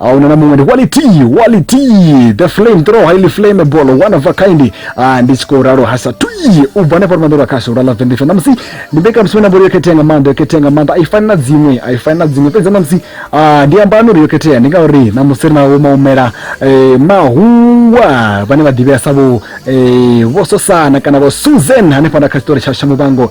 auna na muṅwe ndi quality quality the flame throw highly flammable one of a kind ah, ndi tshi khou ralo hasa tui u bva hanefha lumanḓo lwa khasho lwa love vendifa namusi ndi mbekanyamushumo ine mbori yo khethea nga maanḓa yo khethea nga maanḓa a i fani na dziṅwe a i fani na dziṅwe fhedzi namusi ah, ndi amba uri yo khethea ndi ngauri namusi ri navho maumela eh, mahungwa vhane vha ḓivhea sa vho eh, vho sosana kana vho susan hanefha na kha tshitori tsha shamuvhango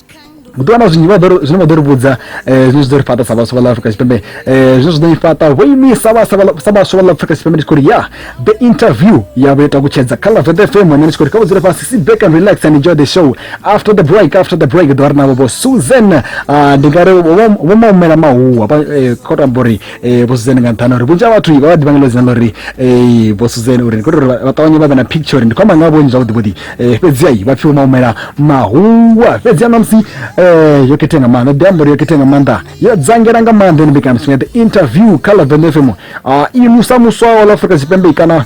ndi wana zwinzhi zwine vha ḓo ri vhudza eh, zwine zwi ḓo ri fhaṱa sa vhaswa vha ḽa afrika tshipembe eh, zwine zwi ḓo i fhaṱa vho imisa sa vhaswa vha ḽa afrika tshipembe ndi tshi khou ri ya the interview yavho yo takutshedza kha lavet fm ane ndi tshi khou ri kha vha dzule fhasi sit back and relax and enjoy the show after the break after the break ḓo ri navho vho susan ah, ndi nga ri vho maumela mahuwa eh, khou tamba uri eh vho Suzan nga nṱhani uri vhunzhi ha vhathu vha vha ḓivha nga ḽo dzina ḽori eh vho Suzan uri ndi khou uri vha ṱavhanye vha vhe na picture uri ndi khou amba nga vhonyi zwavhuḓi vhuḓi eh fhedzi ai vha pfiwa maumela mahungwa fhedzi ana musi eh yo khetha nga maanḓa ḓi amba yo khetha nga maanḓa yo dzangela nga maanḓa ni mbekana mutsinga the interview kha la Venefemo a imusa muswa wa Afrika Tshipembe kana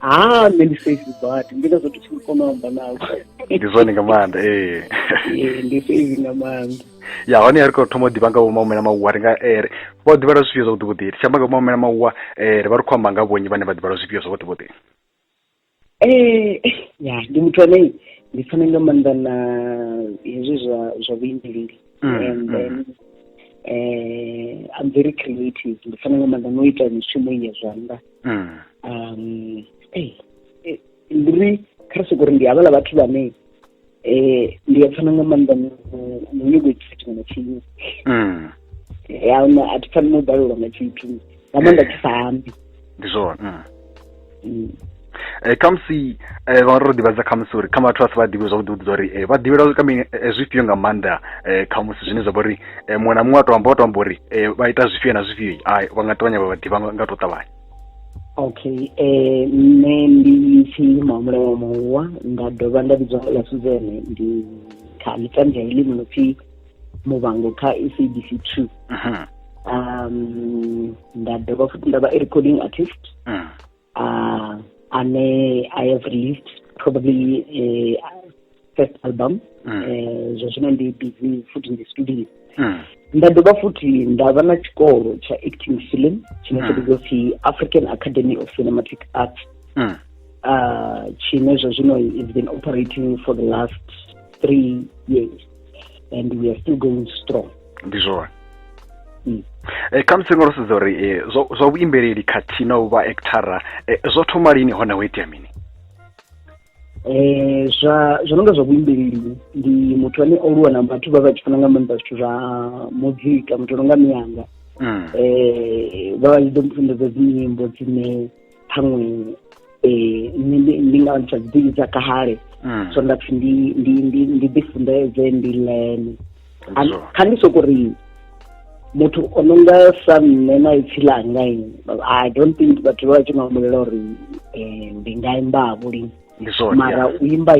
ha nṋe ndi safe badi ndi ngazwo ndi tshi kona u amba nawe ndi zwone nga maanḓa ee ee ndi safe nga maanḓa ya hone ri khou thoma u ḓivha nga vho maumela mauwa ri nga eh, ri- vha u ḓivha lwa zwifhio zwavhuḓi vhuḓi ri tshi amba nga vho maumela mauwa eh, ri vha ri khou amba nga vhonyi vhane vha ḓivha lwa zwifhio zwavhuḓi vhuḓi Eh, ya ndi muthu ane ndi fana nga maanḓa na hezwi zwa zwa vhuimbeleli Mm, and mm. then eh, I'm very creative ndi fana nga maanḓa no ita mishumo i ya zwanḓa mm. um eh, eh, ndi ri kha ri sokori ndi havhala vhathu vhane um ndi a pfana nga maanḓa no nyago itisa tshiṅwe na tshiṅwe mm. yauna a thi pfani no balelwa nga tshithu nga maanḓa tshi sa ambi ndi zwone mm. mm. Eh, khamusi eh, vha ro ḓivhadza khamusi uri kha vhathu vha si vha ḓivhe zwavhuḓi vhuḓi zwa uri eh, vha ḓivhela kha mini zwifhio nga maanḓa khamusi zwine zwa vha uri eh, muṅwe na muṅwe a to amba o to amba uri eh, vha ita zwifhio na zwifhio ai vha nga ṱavhanya vha vhaḓivha nga to ṱavhanya okay eh nṋe ndi tshi mahumbula wa muwa nda dovha nda vhidzwa nga ḽa suzene ndi kha mitambo ya elimu no pfi muvhango kha sabc two mhm. um nda dovha futi nda vha i recording artist mhm. Uh, and uh, I have released probably a uh, first album mm. uh, zwa zwino ndi busy futhi ndi studio mm. nda dovha futhi nda vha na tshikolo tsha acting film tshine tsha vhidzwa mm. pfi african academy of cinematic arts mm. uh, tshine zwa zwino is been operating for the last three years and we are still going strong ndi zwone Mm. Eh, kha musi ngo sedza uri eh, zwa zwa vhuimbeleli khathihi na u vha actara eh, zwo thoma lini hone ho itea mini eh zwa zwo nonga zwa vhuimbeleli ndi muthu ane o luwa na vhathu vha vha tshi funa nga maanḓa zwithu zwa muzika muthu nonga miyanga Mm. eh vha vha tshi ḓo mufundedza dzinyimbo dzine ṱhaṅwe um nṋe ndi nga ntsha dziḓivi dza kale mm. so nda pfi ndi ndi ndi ndi ḓifunḓedze ndi lene kha ndi soko ri muthu o no nga sa nṋe na ipfi langa i don't think vhathu vha tshi nga humbulela uri um ndi nga imba vho lini mara u imba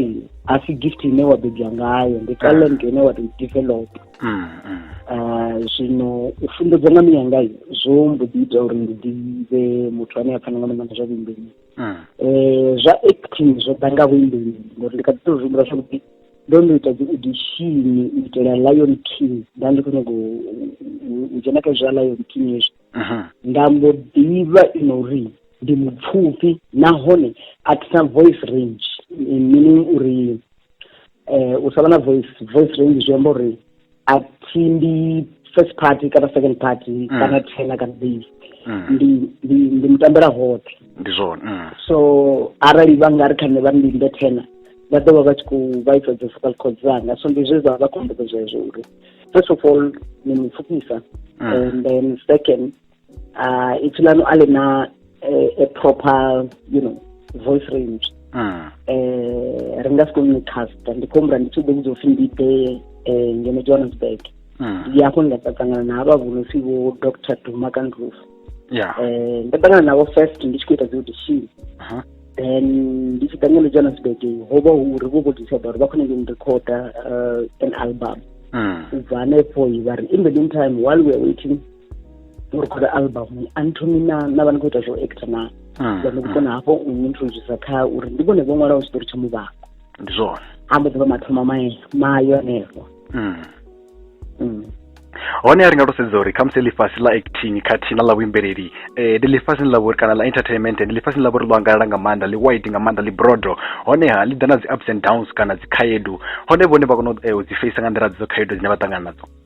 a si gift ine wa bebwa ngayo ndi talent ine wa to develop mm, mm. Ah, zwino u funḓedza nga miyanga zwo mbo ḓi ita uri ndi ḓivhe muthu ane a pfana nga maanḓa zwa vhuimbeli um zwa acting zwo ḓa nga vhuimbeli ngori ndi kha ḓi to zwi humbula zwavhuḓi ndo no ita dzi audition u itela lion king nda ndi khou nyago u dzhena kha zwa lion king hezwi mhm. nda mbo ḓivha i no uri ndi mupfufhi nahone a thi na voice range meaning uri eh u sa vha na voice voice range zwi amba uri a thi ndi first party kana second party mm. kana tena kana mbili mm. ndi ndi ndi mutambela hoṱhe ndi zwone mm. so arali vha nga ri kha nṋe vha ndi nde tena vha ḓo vha vha tshi khou vhaisa dzi vocal code dzanga so ndi zwe zwa vha khombedzo zwezwo uri first of all ni mupfukisa and then second uh, ipfi lanu a lina eh, a proper you know voice range mm. eh, ri nga si koni casta ndi khombula ndi tshi ḓo vhudza upfi ndi ḓe eh, ngeno johannesburg mm. ndi hafho ndi nga ṱangana na havha vho no pfi vho dr duma kandruf yeah. eh, nda ṱangana navho first ndi tshi khou ita dzi audition uh -huh. then ndi tshi ṱangana johannesburg ho vha hu uri vho vho decide uri vha khou nyanga ndirecorda uh, an album mm. ubva hanefho vha ri in the meantime while weare waiting u rekhoda album a ni thomi na na vha ni khou ita zwo actor na vha ni vhukona hafho u ni introducer kha uri ndi vhone vho ṅwalaho tshitori tsha muvhango ndi zwone a mbo ḓi vha mathomo mae mayo anefho hone a ri nga to sedza uri khamusi ḽifhasi ḽa acting khathihi na ḽa vhuimbeleli um ndi ḽifhasini ḽa vhori kana ḽa entertainment ndi ḽifhasini ḽa vhori ḽo angalala nga maanḓa ḽi wide nga maanḓa ḽi brodo honeha ḽi ḓa na dzi ups and downs kana dzi khaedu hone vhone vha kona u dzi feisa nga nḓila dzo khaedu dzine vha ṱangana nadzo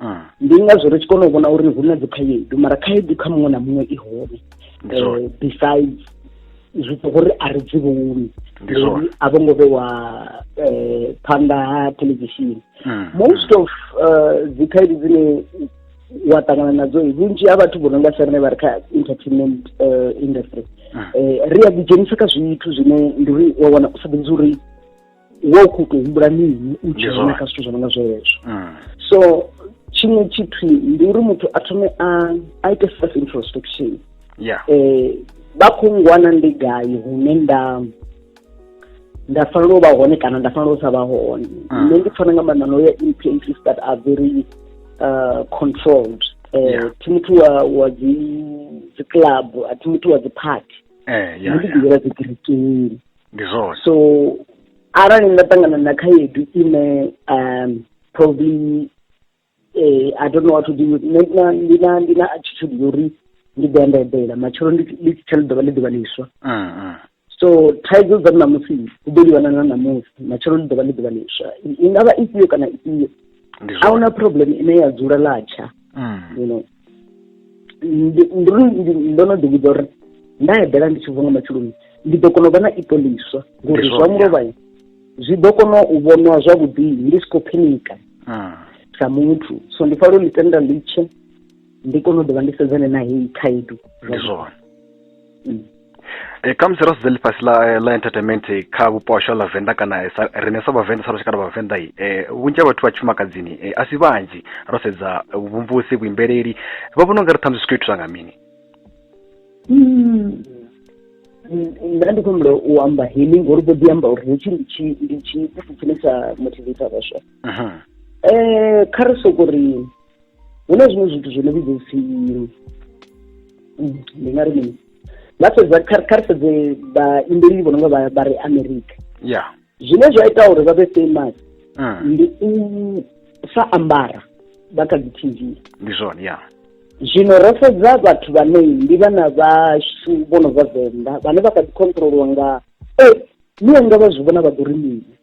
mm. ndi ngazwo ri tshi kona u vhona uri hu na dzi khaedu mara khaedu kha muṅwe na muṅwe i hone eh, besides zwi to gore a re dzi vhoni uri a vho ngo vhewa eh, phanḓa ha televishini hmm. most of eh, dzi khaedu dzine wa ṱangana nadzo vhunzhi ha vhathu vho no nga sarine vha ri kha entertainment eh, industry hmm. ri a ḓidzhenisa kha zwithu zwine ndi uri wa wana u sa ḓivhi uri wo khou tou humbula mini u tshi vhona kha zwithu zwo no nga zwezwo mm. so tshiṅwe tshithu ndi uri muthu a thome a a ite self introspection yeah. eh vha khou ngwana ndi gai hune nda nda fanela u vha hone kana nda fanela u sa vha hone mm. nṋe ndi pfana nga maanḓa no ya in places that are very uh, controlled eh yeah. thi muthu wa wa dzi dzi club a thi muthu wa dzi party eh yeah, ndi ḓivhela dzi kerekeni ndi zwone so arali nda ṱangana na khaedu ine um probably eh, i don't know what to do with nṋe ndi na- ndi na ndi na attitude ya uri ndi ḓo ya nda eḓela matshelo ndi ndi tshi tshela ḓuvha ḽi ḓuvha ḽiswa Mm, mm. so thaidzo dza ṋamusi u ḓo livhana na ṋamusi matshelo ḽi ḓuvha ḽi ḓuvha ḽiswa i nga vha ifhio kana ifhio ndi a zwone huna problem ine ya dzula latsha Mm. you know ndi ndi ndo no ḓivhudza uri nda eḓela ndi tshi vuwa nga matsheloni ndi ḓo kona u vha na ipo ḽiswa ngori zwa mulovha zwi ḓo kona u vhonwa zwavhuḓi ndi si khou phinika hmm. sa muthu so ndi fanela u ḽi tenda litshe ndi kone u ḓovha ndi sedzane na heyi khaedu ndi zwone e kha musi ro sedza ḽifhasi ḽa eh, ḽa entertainment eh, kha vhupo hashu ha ḽavenḓa kana eh, sa- riṋe sa vhavenḓa sa lushaka lwa vhavenḓa i eh, vhunzhi ha vhathu vha tshifumakadzini eh, a si vhanzhi ro sedza eh, vhumvumvusi vhuimbeleli vha vhona ungari ṱhamusi zwi khou ithusa nga mini nṋe ndi khou humbula u amba healing ngori vho ḓi amba uri hetshi ndi tshi ndi tshi tshine tsha motivata vhaswa Mhm. um kha ri soko ri hu na zwiṅwe zwithu zwo no vhidza upfhi ndi nga ri mini vha sedza kha ri sedze vhaimbeli vho no nga vha ri america ya zwine zwa ita uri vha vhe famous mm. ndi u sa ambara vha kha dzi tv ndi zwone ya zwino ro sedza vhathu vhane ndi vhana vhashu vho no bva venḓa vhane vha kha ḓi controliwa nga e ni anga vha zwi vhona vha ḓo ri mini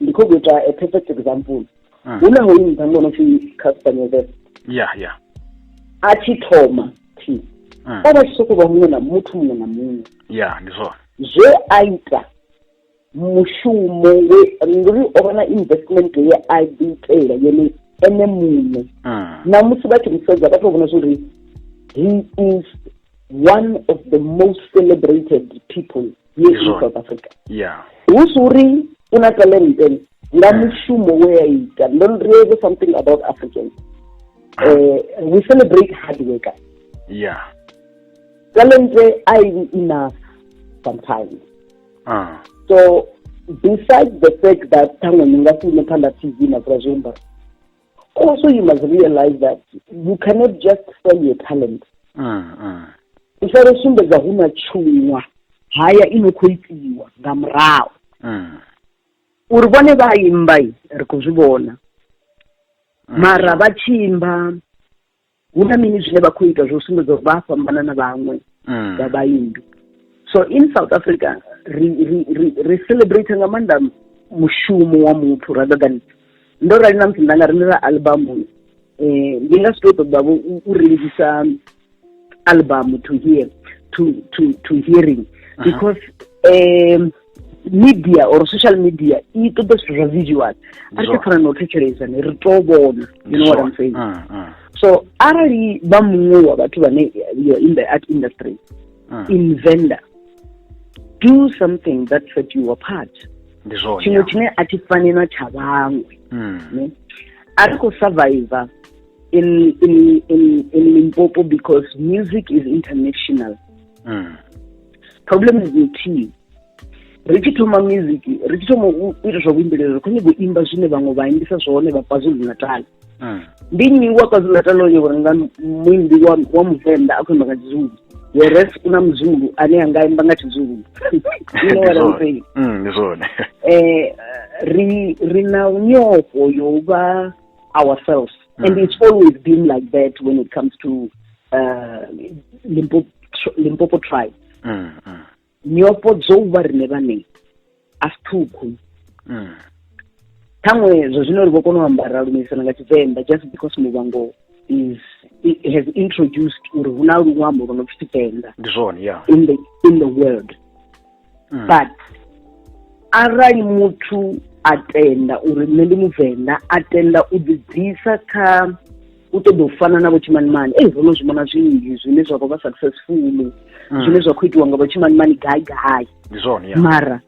ndi khou ita a perfect example mm. hu na hoyu mutambo ono pfi castaneve ya ya a tshi thoma thi mm. o vha tshi sokou vha muṅwe na muthu muṅwe na muṅwe ya ndi zwone zwe a ita mushumo we ngori o vha na investment ye a ḓiitela yone ene muṋe mm. na musi vha tshi musedza vha tou vhona zwori he is one of the most celebrated people yes Izwo. south africa ya hu si uri u na talenten nga Mm. mushumo we a ita ndo ri eve something about africans eh, we celebrate hard worker ya talente a i enough sometimes ah so besides the fact that ṱhaṅwe ni nga si ime phanḓa tv na dzula zwiambaro Also, you must realize that you cannot just sell your talent. Mm, mm. U fanela u sumbedza hu na tshuṅwa haya i no khou itiwa nga murahu. Mm. Uri vhone vha imba ri khou zwi vhona. Mm. Mara vha tshi imba hu na mini zwine vha khou ita zwo sumbedza uri vha a fhambana na vhaṅwe mm. vha vhaindu so in south africa ri ri ri ri celebrate nga maanḓa mushumo wa muthu rather than ndo rali na musi nda nga rindela albamu um eh, ndi nga si to ṱoḓavho u rengisa albamu to hear to to to hearing ah. because um media or social media i ṱoḓa zwithu zwa visual a ri fana na u thetshelesa ne ri to vhona you know what i'm saying mm, mm. so arali vha muṅwe wa vhathu vhane you're in the art industry mm. invender do something that set you apart tshiṅwe tshine a thi fani na tsha vhaṅwe mm. a ri khou survivor in, in, in, in limpopo because music is international mm. problem is the team ri tshi thoma music ri tshi thoma u ita zwa vhuimbeleli ri khou nyanga u imba zwine vhaṅwe vha imbisa zwone vha kwazulu natal hmm. ndi nnyi wa kwazulu natal o nyanga uri nga muimbi wa muvenḓa a khou imba nga tshizulu whereas u na muzulu ane a nga imba nga tshizulu hmm, um eh, ri na nyofho yo vha ourselves Mm. And it's always been like that when it comes to uh, Limpopo, Limpopo tribe. Mm, mm. nyopo dzo vha rine vhane a si ṱhukhu mm. ṱhaṅwe zwo zwino ri vho kona u ambara lumisana nga tshivenḓa just because muvhango is has introduced uri hu na luṅwambo lwo no pfi tshivenḓa ndi zwone ya in the in the world mm. but arali muthu a tenda uri nṋe ndi muvenḓa a tenda u ḓibvisa kha u ṱoḓa u fana na vhotshimanimani ei ro no zwi vhona zwinzhi zwine zwa khou vha successful mm. zwine zwa khou itiwa nga vhotshimanimani gai gai mara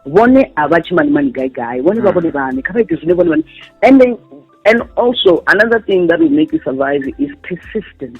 vhone a vha tshimanimani gai gai vhone vha mm. vhone vhane kha vha ite zwine vhone vhane and and also another thing that will make you survive is persistence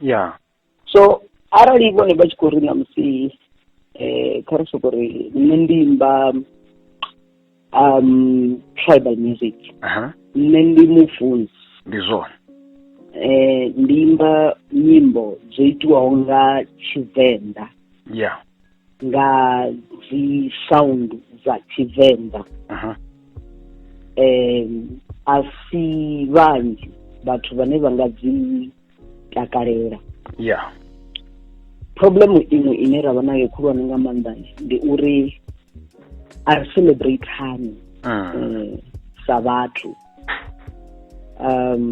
ya so arali vhone vha tshi khou ri na musi eh kha ri soko ri nṋe ndi imba um tribal music nṋe ndi mufunzi ndi zwone eh ndi imba nyimbo dzo itiwaho nga tshivenḓa ya nga dzi sound dza tshivenḓa um a si vhanzhi vhathu vhane vha nga dzi takalela yeah problem iṅwe ine ra vha nayo khulwane nga maanḓa ndi uri a ri celebrate hani ah. eh, sa vhathu um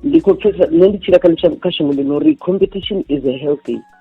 ndi khou pfesa nṋe ndi tshila kha shango ḽino uri competition is a healthy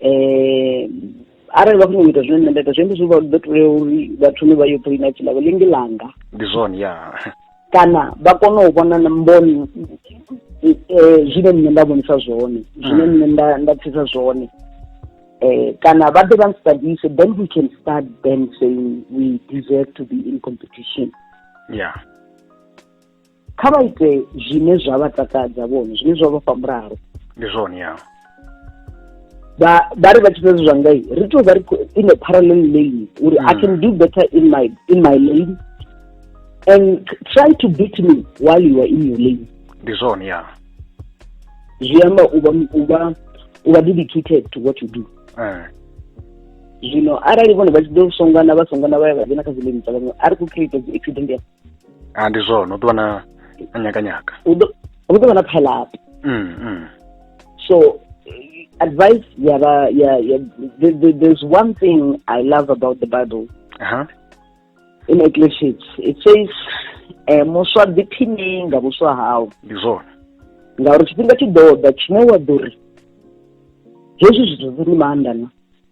eh arali vha khou nyanga ita zwine nṋe nda ita zwi amba zwi vha ḓo tea uri vha thome vha yo pulina tshilavho lingi langa ndi zwone ya kana vha kone u vhona na mboni eh, zwine nṋe nda vhonisa zwone zwine mm. nṋe nda nda pfisa zwone eh kana vha ḓe vha nstadise then we can start then saying we deserve to be in competition yeah kha vha ite zwine zwa vha takadza vhone zwine zwa vha fha mulalo ndi zwone ya ba ba ri vha tshi fhedza zwa ngai ri tou vha ri in a parallel lane uri i can do better in my in my lane and try to beat me while you are in your lane ndi zwone ya zwi amba u vha u vha u vha dedicated to what you do eh zwino arali vhone vha tshi ḓo songana vha songana vha ya vha dzhena kha dzi lane dza vhaṅwe a ri khou create dzi accident ya a ndi zwone u ḓo vha na na nyakanyaka u ḓo u ḓo vha na pile-up mm, mm. so advice ya vha ya ya the, the, there's one thing i love about the bible Aha. in ecclesiastes it says eh, muswa ḓiphiṋe nga vhuswa hau ndi zwone ngauri tshifhinga tshi ḓo ḓa tshine wa ḓo ri hezwi zwithu zwi ni maanḓa na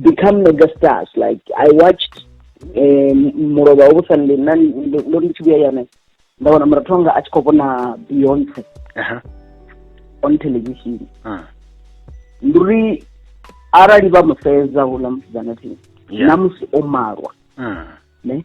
become mega stars like i watched eh, mulovha wo vhusa ndi na ndo ndo ndi tshi vhuya yone nda wana murathu wanga a tshi khou vhona beyonce Aha. on television Ah. ndi uri arali vha mu sedza houḽa musidzana thi Yeah. na musi o malwa Ah. ne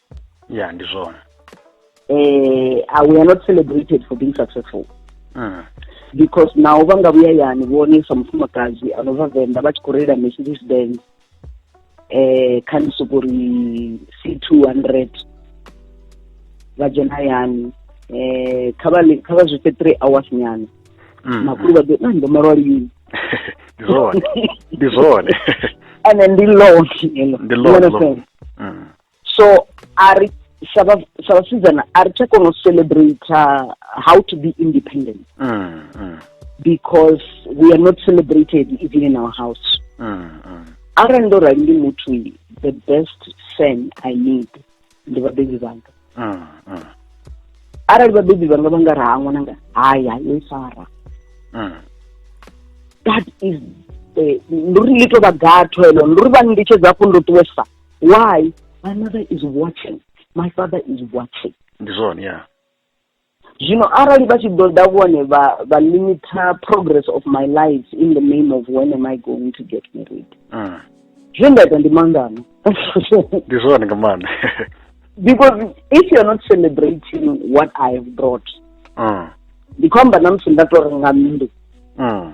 ya ndi zwone eh uh, we are not celebrated for being successful mm. because naho vha nga vhuya yani vhone sa mufumakadzi ano vha venḓa vha tshi khou reila mercedes benz eh kha ni soko ri c two hundred vha dzhena yani eh kha vha kha vha zwi fhe three hours nyana mm. makhulu vha ḓo na ndo malwa lini ndi zwone ndi zwone ene ndi longi ndi longi mm. so a ri sa vhasidzana a ri tsha kona u celebrate how to be independent mm, mm. because we are not celebrated even in our house mm, mm. arali ndo rali ndi muthu the best fan i need ndi vhabebi vhanga mm, mm. arali vhabebi vhanga vha nga raha ṅwananga haya yo i fara mm. that is eh, ndi uri ḽi tou vha gatho elo ndi uri vha nnditshedza hafhu ndo ṱuwesa why my mother is watching my father is watching ndi zwone ya zwino arali vha tshi ḓo ḓa vhone vha vha limiter progress of my life in the name of when am i going to get married mm. zwe nda ita ndi mangano ndi zwone nga maanḓa because if you're not celebrating what i have brought mm. ndi khou amba na musi nda to renga nnḓu mm.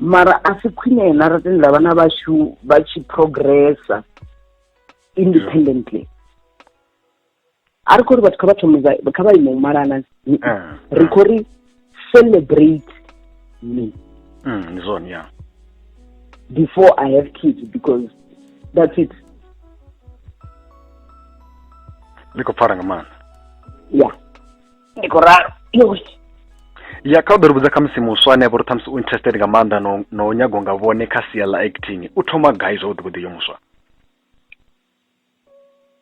mara a si khwine na ra tendela vhana vhashu vha tshi progressa independently a ri khou ri vhathu kha vha thome kha vha ime u malana eh, eh. ri khou ri celebrate me mm, zone yeah before i have kids because that's it ni khou pfara nga maanḓa yeah ndi khou ralo ya kha u ḓo ri vhudza khamusi muswa ane avha uri ṱhamusi u interested nga maanḓa no no nyago nga vhone kha sia ḽa acting u thoma gai zwavhuḓi vhuḓi yo muswa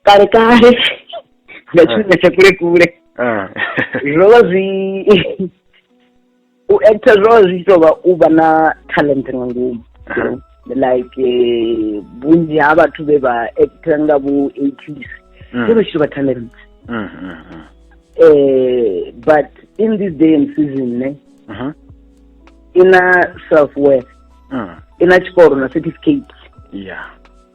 kale kale nga tshifhinga tsha kule kule zwo vha zwi u actor zwo zwi tshi tovha u vha na talent nga ngomu like eh, vhunzhi ha vhathu vhe vha actor nga vho eighties mm. zwo vha tshi tovha talent mm, mm, eh but in this day and season ne uh-huh. ina self worth ina tshikoro na certificate yeah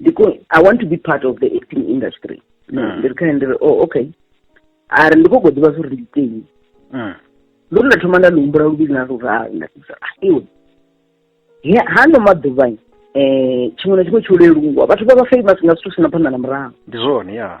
because i want to be part of the acting industry mm. ndi ri kha ndi ri oh okay a ri ndi khou goḓivha zwo ri ndi teni mm. ndo ri nda thoma nda lihumbula luvhili na luraru nda ḓivisa ah, iwe hano maḓuvha um eh, tshiṅwe na tshiṅwe tsho leluwa vhathu vha vha famous nga zwithu sina phanḓa na murahu ndi zwone ya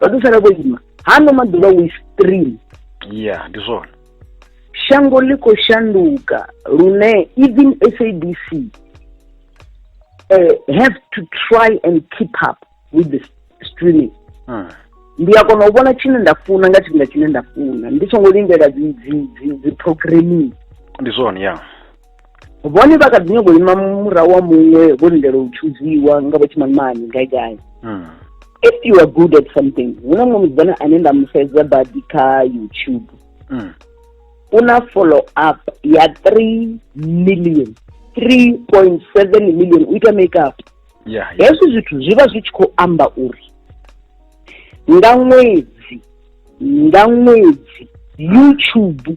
vha ḓo sala vho ima hano maḓuvha we stream ya ndi zwone shango ḽi khou shanduka lune even sabc uh, eh, have to try and keep up with the streaming hmm. ndi a kona u vhona tshine nda funa nga tshifhinga tshine nda funa ndi songo lindela dzi dzi dzi dzi programming ndi zwone ya yeah. vhone vha kha ḓi nyongo ima murahu wa muṅwe vho lindela u thuziwa nga vho tshimanimani gai gai hmm. if you are good at something hu na muṅwe musidzana ane nda mu sedza badi kha youtube hmm. u na follow up ya three million three point seven million u ita make up hezwi zwithu zwi vha zwi tshi khou amba uri nga ṅwedzi nga ṅwedzi youtube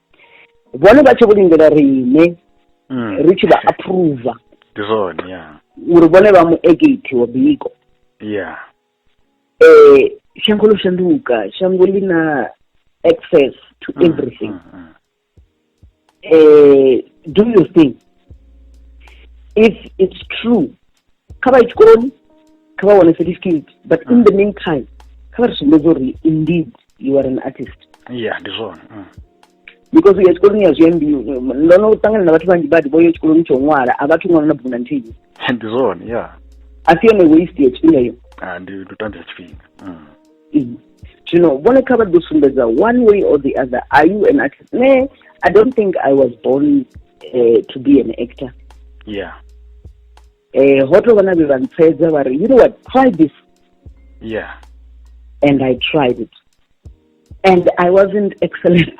vhone vha tshi vho lindela riṋe Mm. ri tshi vha approva Ndi zwone ya. uri vhone vha mu egate wa biko Ya. eh shango ḽo shanduka shango ḽi na access to Mm, everything mm, mm. eh do your thing if it's true kha vha ye tshikoloni kha vha wane certificate but in the meantime kha vha ri sumbedze uri indeed you are an artist yeah ndi zwone mm. because uya tshikoloni ya zwiambi ndo no ṱangana na vhathu vhanzhi badi vho yo tshikoloni tsho ṅwala a vhathu ṅwana na bugu na nthihi ndi zwone ya a si yone waste ya tshifhinga yo ah, ndi ndi u tambisa tshifhinga mm. mm. zwino vhone kha vha ḓo sumbedza one way or the other are you an actor ne i don't think i was born uh, to be an actor yeah eh ho tou vha na vhe vha ntsfedza vha ri you know what try this yeah and i tried it and i wasn't excellent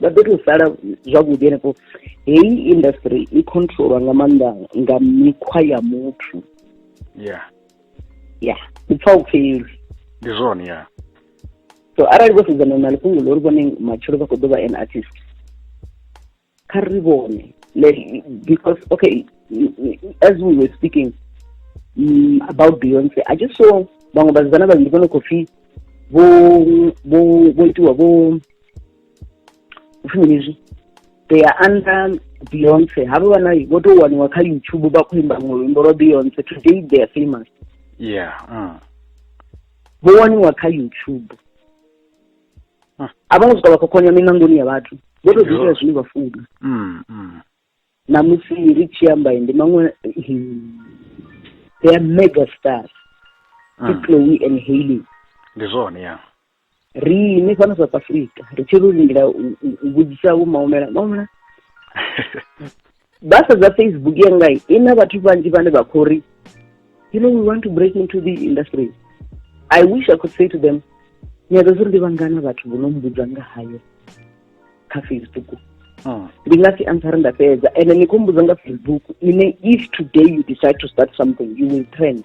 vha ḓo tou sala zwavhuḓi henefho heyi industry i controlwa nga maanḓa nga mikhwa ya muthu ya ya u pfa u pfeli ndi zwone ya so arali vho sedzana na lifhungo ḽo ri vhone matshelo vha khou ḓo vha an artist kha ri vhone because okay as we were speaking um, about beyonce i just saw vhaṅwe vhasidzana vhavhili vho no khou pfi vho vho vho itiwa vho upfhi mini zwi they are under beyonce havho vha nayo vho tou waniwa kha youtube vha khou imba ṅwe luimbo lwa beyonce today they are famous yeah uh. vho waniwa kha youtube uh. a vho ngo swika vha khokhonya miṋangoni ya vhathu vho tou ḓiitela zwine vha funa mm, mm. namusi ri tshi amba ndi maṅwe they are mega stars mm. chloe and haley ndi zwone ya riṋe fhano south africa ri tshi ro lindela u vhudzisa vho maumela maumela ba sedza facebook yanga i na vhathu vhanzhi vhane vha khou ri you know we want to break into the industry i wish i could say to them nyaga zwi ri ndi vhangana vhathu vho no mbudza nga hayo kha facebook ah. ndi nga si answer nda fhedza and ni khou mbudza nga facebook ine if today you decide to start something you will trend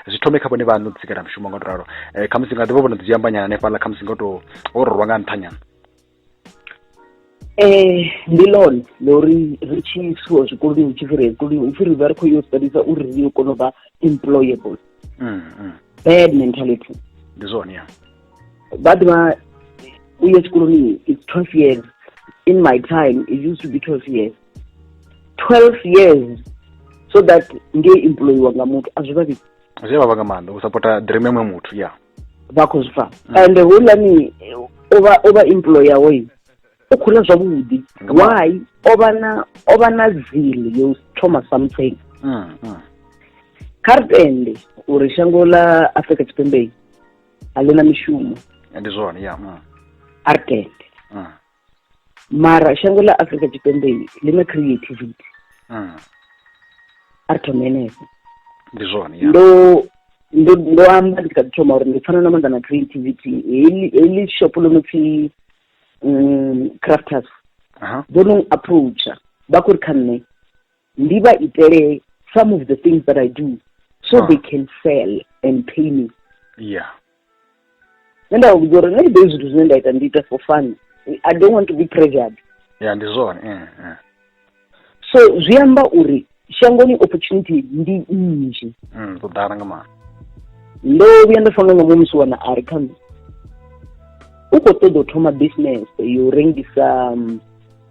zwi thome kha vhone vhaṋe u ḓisikela mushumo nga u ralo eh, khamusi nga ḓivha vho no ḓi dziambanyana hanefhaḽa khamusi nga u tou o rorwa nga nṱhanyana Eh, ndi lone ḽo ri ri tshi isiwa zwikoloni hu tshi fhi ri zwikoloni hu pfi ri vha ri khou yo studisa uri ri yo kona u vha employable mm, mm. bad mentality ndi zwone ya vha ḓivha u ya tshikoloni it's twelve years in my time it used to be twelve years 12 years so that ngei employiwa nga muthu a zwi vha vhidzi zwi vha vha nga maanḓa u sapota dream emwe muthu ya vha khou zwi pfa mm. and hulani ovha ovha employer hoyu u khou ḽa zwavhuḓi why ovha na ovha na zile yo thoma something mm, mm. kha ri tende uri shango ḽa afrika tshipembe a ḽi na mishumo ndi zwone ya a ri tende mara shango ḽa afrika tshipembe ḽi na creativity mm. a ri thome henefho ndi zwone ndo ndo ndo amba ndi kha ḓi thoma uri ndi pfana na maanḓa na creativity heḽi heḽi shop ḽo no pfi um crafters vho no approacha vha khou ri kha nṋe ndi vha itele some of the things that i do so huh. they can sell and pay me yeah nṋe nda vha vhudza uri nṋe ndi ḓoi zwithu zwine nda ita ndi ita for fun i don't want to be pressured ya ndi zwone eh, eh. so zwi amba uri shangoni opportunity ndi nnzhi mm, ḓo ḓala nga maanḓa ndo vhuya nda fana nga muṅwe musi wana a ri kha u khou ṱoḓa u thoma business yo rengisa um,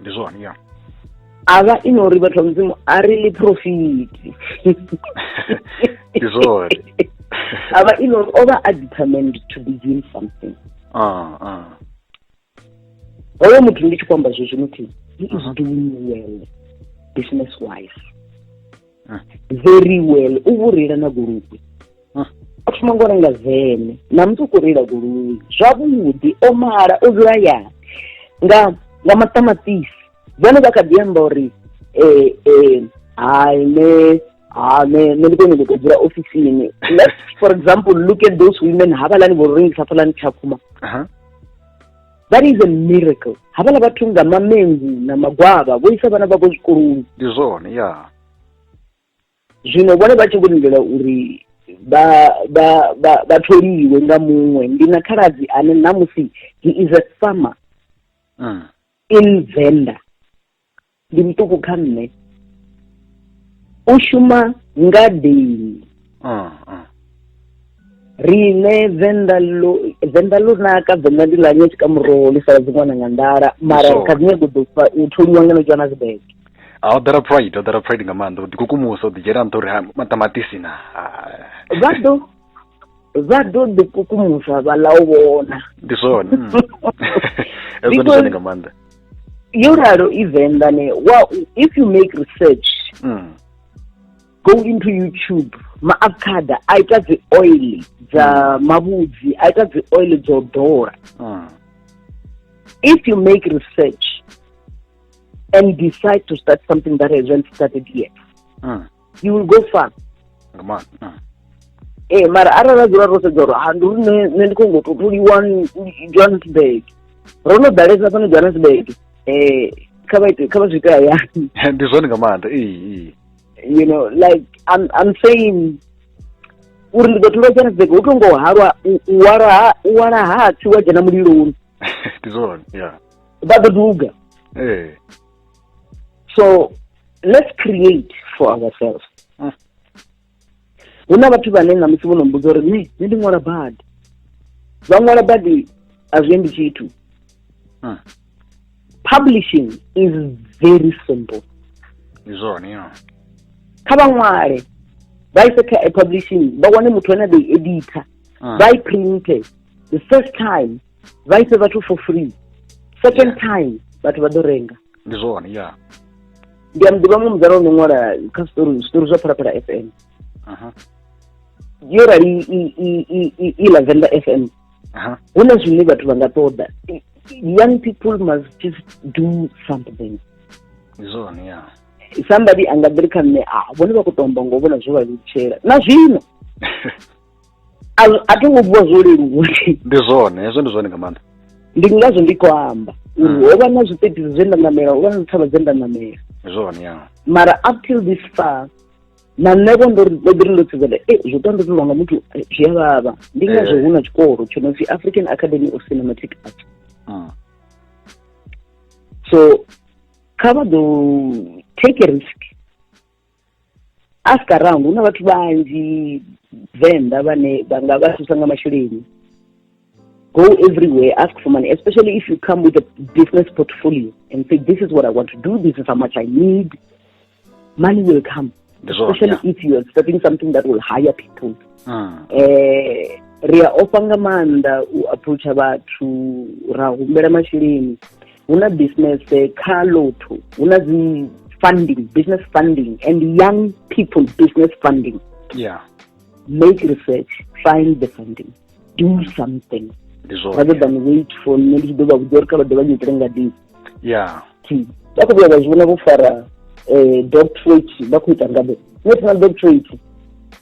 ndi zwone ya a vha i no uri vhathu vha mudzimu a ri ḽi profiti ndi zwone a vha i no uri o vha a determined to be doing something ah, ah. hoyo muthu ndi tshi khou amba zwe zwino thi he is doing well business wise ah. very well u vho reila na goloi ah. a thoma ngo renga vene na muthu u khou reila goloi zwavhuḓi o mala o dzula ya nga nga maṱamaṱisi vhone vha kha ḓi amba uri um um hai ne ha ne ne ndi kone u dzula ofisini let's for example look at those women havhalani vho rengisa phalani tshakhuma that is a miracle havhala vhathu nga mamengu na magwavha vho isa vhana vhavho zwikoloni ndi zwone ya zwino vhone vha tshi vho lindela uri vha vha vha vha tholiwe nga muṅwe ndi na khaladzi ane namusi he is a farmer mm. in venda ndi muṱuku kha nṋe u shuma ngadeni ah, ah. riṋe venḓa ḽo venḓa ḽo naka venḓa ndi ḽa nyetshi ka muroho ḽi sala dziṅwana nga nḓala mara kha dzi nyego ḓo u thonyiwa ngeno tshiwana zwibeke a o ḓala pride o ḓala pride nga maanḓa u ḓikukumusa u ḓidzhela nṱha uri maṱamaṱisi na vha ḓo vha ḓo ḓi kukumuswa vha ḽa u vhona ndi zwone mm. ndi zwone nga maanḓa yo ralo i venḓa ne wa if you make research mm. go into youtube maavocada a ita dzi oil dza mm. mavhudzi a ita dzi oil dzo ḓola mm. if you make research and decide to start something that hasn't started yet mm. you will go far ee mara arali ra dzula ro sedza uri ha ndi uri nṋe ndi khou ngo tou tholiwa johannesburg ro no ḓalesa fhano johannesburg um kha vha ite kha vha zwi ite hayani ndi zwone nga maanḓa you know like i'm, I'm saying uri ndi ḓo tholiwa johannesburg hu tou ngo halwa u wala ha u wala ha tsi wa dzhena muliloni ndi zwone ya vha ḓo duga ee so let's create for ourselves ah. hu na vhathu vhane na musi vho no mbudza uri ne ne ndi ṅwala badi vha ṅwala badi a zwi endi tshithu ah. publishing is very simple izwone yo kha vha ṅwale vha ise kha publishing vha wane muthu ane a ḓo i editha ah. vha i printe the first time vha ise vhathu for free second yeah. time vhathu vha ḓo renga ndi zwone ya ndi a muḓivha mu mudzana ono ṅwala kha story story zwa phalaphala f m yo rali i lavenda f m hu na zwine vhathu vha nga ṱoḓa young people must just do something ndi zwone ya somebody anga ḓiri kha nṋe a ah, vhone vha khou tomba ngo vhona zwo vha lutshela na zwino a a thi ngo vuwa zwo leluwa ndi zwone hezwo ndi zwone nga maanḓa ndi ngazwo ndi khou amba uri Mm. ho vha na zwitetisi zwe nda namela ho vha na dzithavha dze nda namela ndi zwone ya mara up till this far na nṋe vho ndo ri- ndo ḓi ri ndo sedzela e zwo tou ndotolwa nga muthu eh, zwi a vhavha ndi ngazwo Eh. hu na tshikolo tsho no pfi african academy of cinematic arts Mm. so kha vha ḓo take a risk ask around hu na vhathu vhanzhi venḓa vhane vha nga vha thusa nga masheleni go everywhere ask for money especially if you come with a business portfolio and say this is what i want to do this is how much i need money will come especially yeah. if you're starting something that will hire people mm. eh, ri a ofha nga maanḓa u approacha vhathu ra humbela masheleni hu na business eh, kha lotho hu na dzi funding business funding and young people business funding yeah make research find the funding do something rather than wait for nṋe ndi tshi ḓo vha vhudza uri kha vha ḓe vha nyitele ngadini yeah vha khou vhuya vha zwi vhona vho fara eh, doctorate vha khou ita ngade national doctorate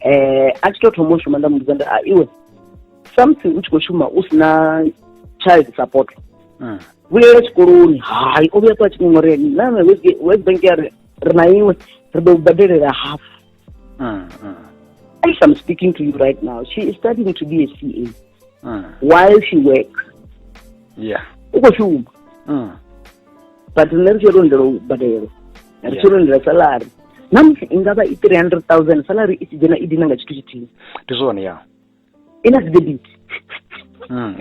eh a tshi to thoma u shuma nda muvhudza nda a iwe samusi u tshi khou shuma u si na child support mm. vhuyela tshikoloni hai o vhuya kwa tshiṅoṅore name west bank ya ri ri na iwe ri ḓo badelela half mm, mm. if i'm speaking to you right now she is studying to be a c a mm. while she works yeah u khou shuma mm. but nṋe ri tshi ri lindela u badelo ri tshi ri lindela salary na musi i nga vha i three hundred thousand salary i tshi dzhena i dina nga tshithu tshithihi ndi zwone ya i na dzidebit mm.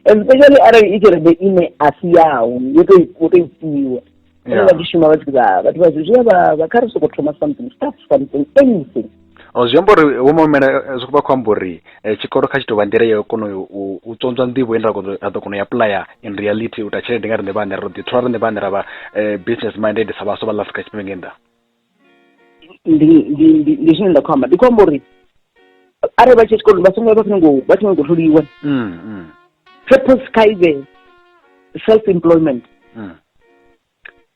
especially arali i tshelede ine a si yaho yo to i fhiwa yeah. vha tshi shuma vha tshi vha vhathu vha zwi vha vha kha ri soko thoma something start something anything oh, zwi amba uri wo momela eh, zwi khou vha khou amba uri eh, tshikolo kha tshi tou vha nḓila yo kona u tsontswa nḓivho ine ra ḓo kona u aplaya in reality u ta tshelede nga riṋe vhaṋe ro ḓi thola riṋe vhaṋe ra vha eh, business minded sa vhaswa vha ḽa afrika tshipembe nge nnḓa ndi ndi ndi ndi zwine nda khou amba ndi khou amba uri arali vha tshi tshikoloni vha songo vha songo vha songo ngo tholiwa Mm, mm, purpose kha ive self employment mm.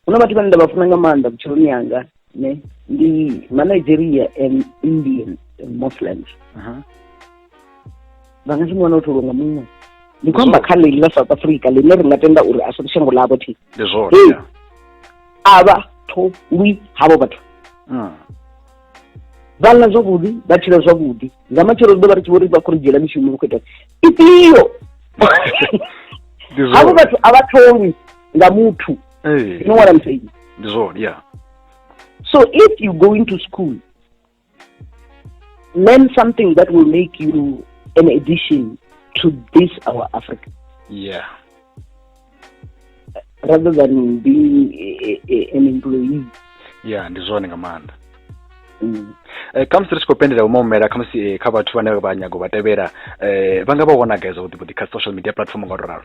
hu na vhathu vhane nda vha funa nga maanḓa vhutshiloni yanga ne ndi manigeria and indian and muslims Aha. vha nga si mu wana u tholiwa nga muṅwe ndi khou amba kha ḽeḽi ḽa south africa ḽine ri nga tenda uri a si shango ḽavho thi Ndi zwone. Hey. ya. a vha tholwi havho vhathu hmm. vha ḽa zwavhuḓi vha tshila zwavhuḓi nga matshelo ri ḓo vha ri tshi vho ri vha khou ri dzhiela mishumo vha khou ita ifhio havho vhathu a vha tholwi nga muthu you know what i'm saying ndi zwone yeah so if you go into school learn something that will make you an addition to this our Africa. Yeah. Rather than being a, a, an employee. Yeah, ndi zwone nga maanḓa. Mm. Eh, khamusi ri tshi khou pendela umomela khamusi eh, kha vhathu vhane vha nyago vha tevhela eh, vha nga vha vhona gai zwavhuḓi vhuḓi kha social media platform nga u to ralo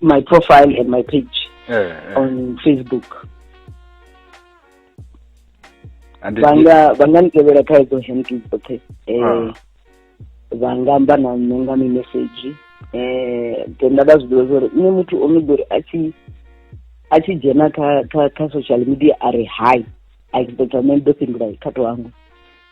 my profile and my page eh, eh. on facebook vhanga vhanga ni tevhela kha edzo handle dzoṱhe um ah. vha nga amba na nṋe nga mimesedzhi um then nda vha zwi ḓivha zwa nṋe muthu o no ḓori a tshi a tshi dzhena kha kha kha social media a ri hi a expecta nṋe ndo fhindula kha to hangwe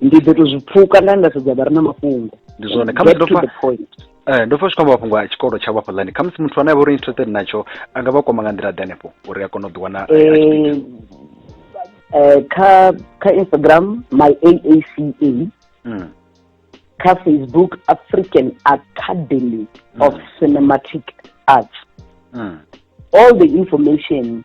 ndi ḓo to zwi pfuka nda nda sedza vha re na mafhungo ndi zwone khamusi ndo fa eh, ndo fa zwi khamba mafhungo a tshikolo tsha vhafha ḽani khamusi muthu ane a vha uri interested natsho a nga vha kwama nga nḓila ḓe hanefho uri a kone u ḓiwana eh, eh, kha kha instagram my aaca hmm. kha facebook african academy hmm. of cinematic arts hmm. all the information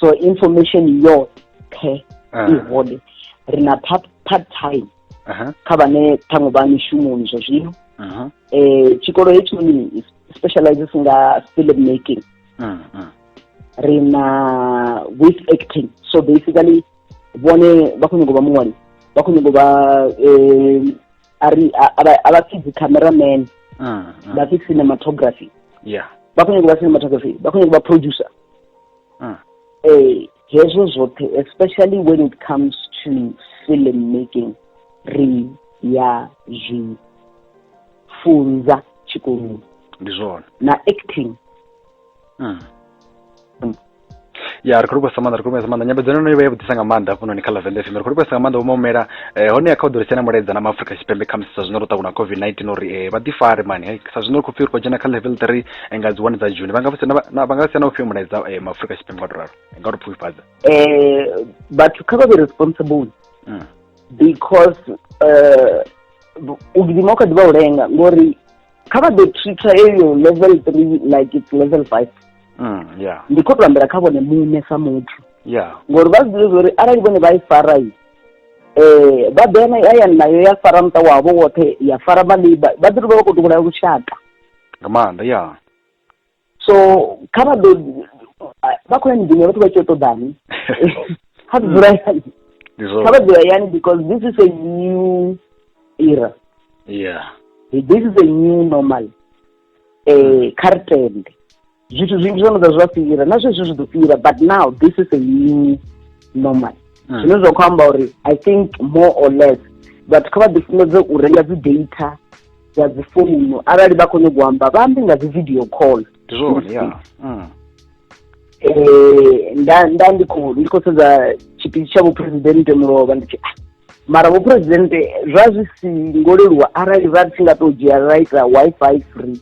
so information yoṱhe ah. i hone ri na part time kha vhane ṱhaṅwe vha mishumoni zwa zwino um tshikolo hetshinoni specializes nga film making ah, ah. ri na with acting so basically vhone vha khou nyanga u vha muṅwali vha khou nyanga u vha um ari a vha pfi dzi-cameraman vha pfi cinematography vha khou nyanga u vha cinematography vha khou nyanga u vha producer mm. eh hezwo zwoṱhe especially when it comes to film making ri ya zwi funza tshikoloni ndi zwone na acting mm. Mm. ya ri khou livhuwa sa maanḓa ri khou livhuwa sa maanḓa nyambedzano no vha ya vhudisa nga maanḓa hafhanoni kha lavende fm ri khou livhuwa sa nga maanḓa vho maumela eh, hone ya kha u ḓo risena mulaedza na maafrika tshipembe khamusi sa zwino ro ṱakuna covid 19 uri eh, vha ḓifare mani sa zwino ri khou pfi ri khou dzhena kha level three nga dzi one dza june vha nga vha nga si na ufhio mulaedza eh, maafurika tshipembe nga to ralo nga to pfufhifhadza eh vhathu kha vha be responsible hmm. because eh, u gidima u kha ḓi vha u lenga ngori kha vha ḓo treater eyo level three like it's level five hmm, ndi khou tou ambela kha vhone muṋe sa muthu ngori vha zwiḓivhe zwa uri arali vhone vha i fara i eh ba bena ya ya nayo ya fara mta wabo wote ya fara ba liba ba diri ba ko tukula ku shaka nga maanḓa ya so kha vha ḓo vha khou ya miḓini vhathu vha tshi yo ṱoḓani kha ḓi dzula yani kha vha dzula yani because this is a new era yeah this is a new normal um kha ri tende zwithu zwinzhi zwo no ḓa zwa fhira na zwezwi zwi ḓo fhira but now this is a new normal hmm. zwine zwa khou amba uri i think more or less vhathu kha vha ḓifunedze u renga dzi data dza dzi founu arali vha khou nyagou amba vha ambi nga dzi video call zwone ya hmm. eh, nda nda ndi khou ndi khou sedza tshipidi tsha vhuphuresidennde mulovha ndi tshi ah, mara vhuphuresidennde zwa zwi si ngo leluwa arali vha tshi nga tou dzhia ra ita wi-fi free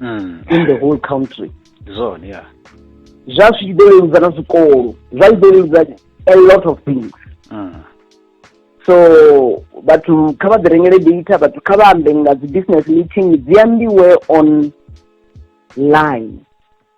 mm. in the whole country zone yeah zwa zwi ḓo leludza na zwikolo zwa ḓo leludza a lot of things mm. so vhathu kha vha ḓi rengele data vhathu kha vha ambe nga dzi business meeting dzi ambiwe on line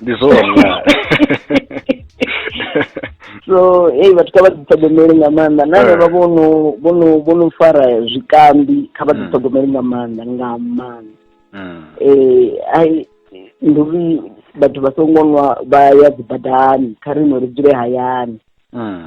ndi zwone so ei vhathu kha vha ḓiṱhogomeli nga maanḓa na vha eh. vhono vhono vhono fara zwikambi kha vha hmm. ḓiṱhogomeli nga maanḓa nga maanḓa hmm. eh ai ndi uri vhathu vha songo nwa vha ya dzibadani kha ri no ri dzule hayani hmm.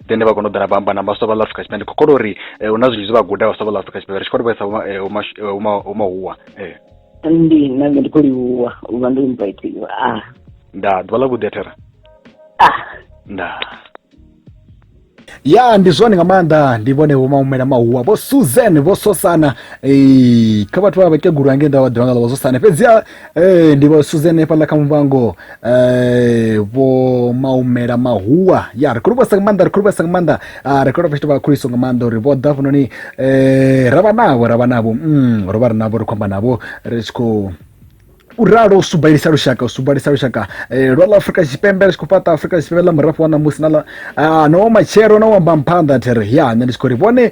then vha kona u ḓa na vha amba na vhaswa vha ḽa afrika tshipembe kho kona uri eh, hu na zwinzhi zwe vha guda vhaswa vha ḽa afrika tshipembe ri tshi kho to vhaisa umahuwa eh, eh. ndi na nṋe ndi khou livhuwa u vha ndo invitiwa ah. nda ḓuvha ḽa vhuḓi a thera ah. nda ya ndi zwone nga maanḓa ndi vhone vho maumela mahuwa vho susan vho sosana kha vhathu vha vhakegulu ange nda vha ḓivha nga ḽa vho sosana fhedzi ee ndi vha suzene hafhaḽa kha muvhango um vho maumela mahuwa ya ri khou livhuwesa nga maanḓa ri khou livhuwesa nga maanḓa ah, ri khou livhuwa fhethu vha khuliso nga maanḓa uri vho ḓa hafhanoni um ra vha navho ra vha navho mm, ro vha ri navho ri khou amba navho ri tshi khou u ralo u subalisa lushaka u subalisa lushaka eh, lwa ḽa afurika tshipembe ri tshi khou fhaṱa afurika tshipembe ḽa murafho wa ṋamusi na ḽa ah, no matshelo na u amba mphanḓa there ya nṋe ndi tshi khou ri vhone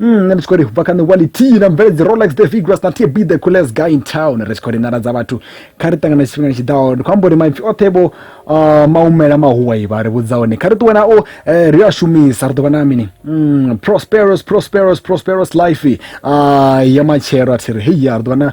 Mm, nṋe ndi tshi khou ri bva kha nṋe wali t na mvele dzi rolex the vigras na t be the coolest guy in town ri tshi khou ri nala dza vhathu kha ri ṱangana tshifhingani tshi ḓaho ndi khou amba uri maipfi oṱhe vho uh, maumela mahuwai vha ri vhudza hone kha ri ṱuwe nao eh, ri a shumisa ri ḓo vha na mini mm, prosperous prosperous prosperous life uh, ya matshelo a thi ri heya ri ḓo vha na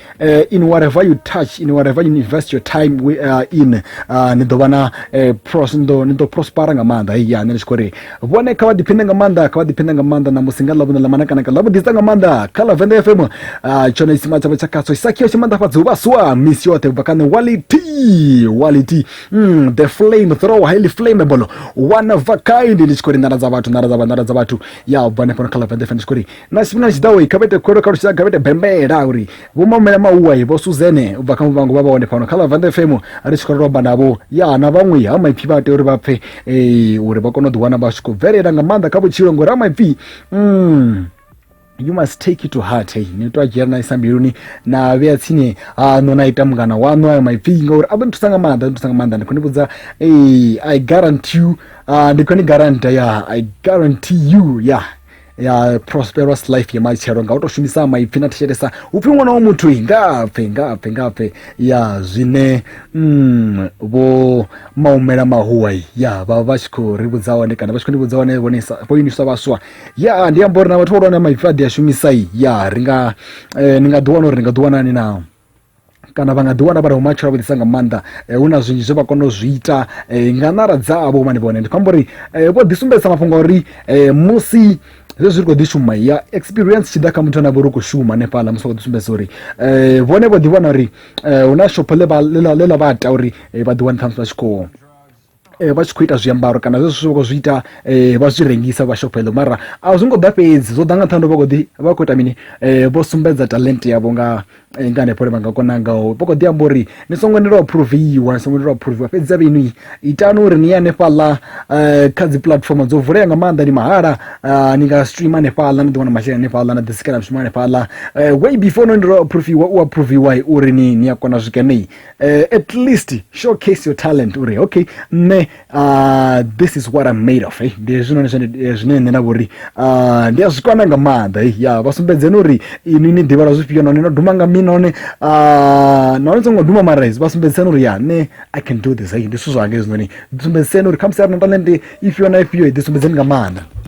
uh, in whatever you touch in whatever you invest your time we, uh, in uh, ni ḓo vha na uh, pros ni ḓo ni ḓo prospera nga maanḓa hei ya nṋe ndi tshi khou ri vhone kha vha ḓiphine nga maanḓa kha vha ḓiphine nga maanḓa na musi nga ḽavhune ḽa manakanaka ḽa vhuḓisa nga maanḓa kha ḽa venḓa fm uh, tshone tsima tshavho tsha khatsho isakhio tshi maanḓafhadza u vhaswa misi yoṱhe ubva kha nṋe wality wality mm, the flame throw highly flammable one of a kind ndi tshi khou ri nḓala dza vhathu nḓala dza vha nḓala dza vhathu ya ubva hanefhano kha ḽa venḓa fm ndi tshi khou ri na tshifhinga tshi ḓaho kha vha ite khuwelo kha lushaka kha vha ite bembela uri vho mamela mauwa vho suzene u bva kha muvhango vha vha hone fhano kha ḽa vande fm ri tshi khou romba navho ya na vhaṅwe ha maipfi vha tea uri vha pfe uri vha kone u ḓiwana vha tshi khou bvelela nga maanḓa kha vhutshilo ngori ha maipfi mm. you must take it to heart hey ni to dzhia na isa mbiluni na vhea tsini haṋu na ita mungana waṋu ayo maipfi ngauri a ḓo ni thusa nga maanḓa ni thusa nga maanḓa ndi khou ni vhudza hey, i guarantee you uh, ndi khou ni garanta ya i guarantee you ya yeah. ya prosperous life ya matshelo nga u tou shumisa maipfi na thetshelesa u pfi ṅwana wa muthu i nga pfe nga pfe nga pfe ya zwine mm, vho maumela mahuwa i, ya vha vha tshi khou ri vhudza hone kana vha tshi khou ni vhudza hone vhone sa- vho iniswa vhaswa ya ndi amba uri na vhathu vhahulwane maipfi a ḓi a shumisa i ya ri nga eh, ni nga ḓiwana uri ni nga ḓiwana ni na kana vha nga ḓi wana vha re vhumatshelo avhuḓisa nga maanḓa eh, hu na zwinzhi zwe vha kona u zwi ita eh, nga ṋara dzavho mani vhone ndi khou amba uri eh, vho ḓisumbedzisa mafhungo a uri musi zwe zwi ri khou ḓi shuma ya experience tshi ḓa kha muthu ane vha uri khou shuma hanefhaḽa musi vha khou ḓi sumbedza uri um vhone vho ḓi vhona uri um hu na shopho ḽe ḽa vha ita uri vha ḓi wane ṱhamusi vha tshi khou Eh, vha tshi khou ita zwiambaro kana zwezwo zwithu vha khou zwi ita eh, vha zwi rengisa vha shopha eḽo mara a zwi ngo ḓa fhedzi zwo ḓa nga nṱhani vha khou ḓi vha khou ita mini eh, vho sumbedza talent yavho nga nga hanefho le vha nga kona ngaho vha khou ḓi amba uri ni songo ni lwa phuruviwa ni songo ni lwa phuruviwa fhedzi a vhenu itani uri ni ye hanefhaḽa kha dzi puḽatifomo dzo vulea nga maanḓa ni mahala ni nga streama hanefhaḽa ni ḓi wana masheleni hanefhaḽa na ḓisikela mishumo hanefhaḽa way before no ni lwa phuruviwa u a phuruviwa uri ni ni a kona zwikene uh, at least showcase your talent uri okay nṋe uh, this is what i'm made of eh? ndi hezwinoni eh, zwine nṋe nda vhori uh, ndi a zwi kwana nga maanḓa eh? ya vha sumbedzeni uri ini ni ḓivhala zwifhio nahone no duma nga mini nahone uh, nahone songo duma mara hezwi vha sumbedziseni uri ya nṋe i can do this eh? ndi zwithu zwanga hezwinoni sumbedziseni uri khamusi a ri na talente ifhio na ifhio ḓi sumbedzeni nga maanḓa